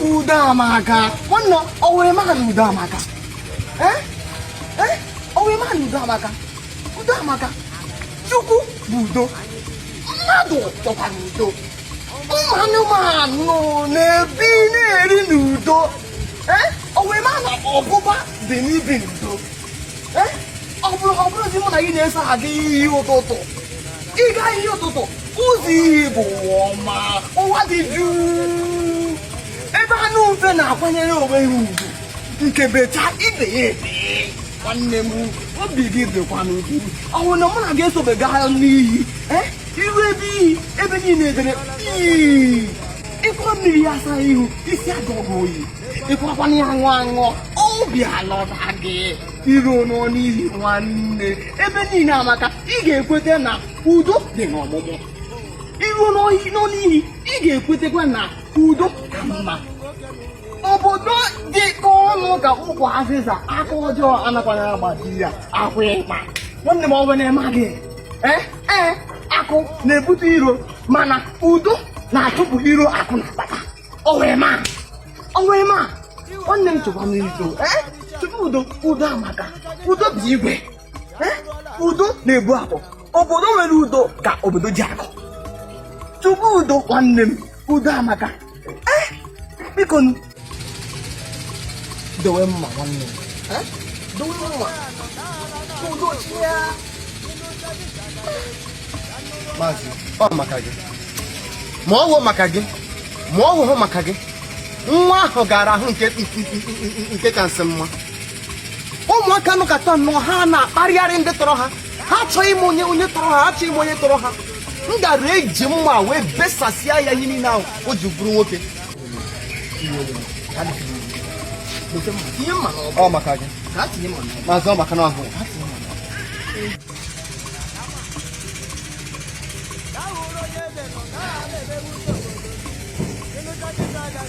udo amaka nwanne o were mara na udo amaka eh? Eh? o were mara na udo amaka udo amaka chukwu bụ udo mmadụ chọkwara udo ụmụ anụmanụ na-ebi na-eri n'udo eh? o were mara ọ bụ ụba dị n'ibi n'udo ọ bụrụ ọ bụrụzi mụ na gị na-eso aga iyi ụtụtụ ịga iyi ụtụtụ ụzọ iyi bụ ụwa ọma ụwa dị jụụ ebe anụ ufe na-akwanyere onwe ha ugwu nke bechaa ibe ya ebe nwanne m obi gị dịkwa n'ugwu ọ bụrụ na mụ na gị esobe gaa n'iyi i ru ebe iyi ebe niile edere jii i kuo mmiri iyi asa ihu isi ajụọ gị oyi ịkwakwana ya aṅụ aṅụ obi alọta gị i ruonụ n'iyi nwanne ebe niile amaka i ga-ekweta na udo dị n'ọmụmụ i ruonụ n'iyi i ga-ekwetakwa na udo ka mma obodo dịkọ ọnụ ka ukwu azịza aka ọjọọ anakwana agbaji ya akwa ịkpa nwanne m ọwe na-eme gị ee ee akụ na-ebute iro mana udo na-achụpụ iro akụ na-akpata ọwụrịma ọwụrịma nwanne m chekwa m udo eh? chekwa udo udo amaka udo bụ igwe eh? udo na-ebu akụ obodo nwere udo ka obodo ji akụ chukwu bụ udo nwanne m udo amaka eh? biko dowe mma nwanne m dowe mma udo chi ya ma ọ wụ maka gị ma ọ wụhụ maka gị nwa ahụ gara ahụ nke ka nsị mma ụmụaka nọkatanụ ha na-akparịgharị ndị tọrọ ha ha achọghị ịma onye onye tọrọ ha achọghị ịma onye tọrọ ha m gara eji mma wee besasịa ya ihe niile ahụ o ji bụrụ nwoke ọ maka gị maazị ọ maka na ọ gị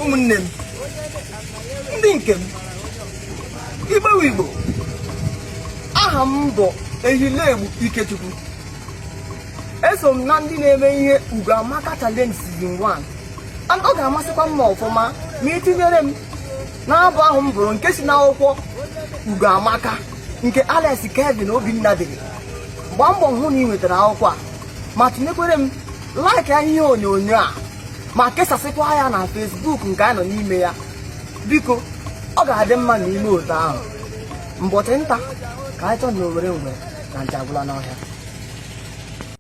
ụmụnne m ndị nke m igbo wụ igbo aha m bụ ehilegbu ikechukwu eso m na ndị na-eme ihe ugo amaka challenge season 1 ọ ga-amasịkwa m ọfụma ma i tinyere m n'abụ ahụ m bụrụ nke si n'akwụkwọ ugo amaka nke alex kevin obinna dere gbaa mbọ hụ na i nwetara akwụkwọ a ma tinyekwere m like n'ihe onyonyo a ma kesasịkwa ya na facebook nke anyị nọ n'ime ya biko ọ ga-adị mma na ime otu ahụ mbọchị nta ka anyị chụọ n'owere ngwe na nja agwụla n'ọhịa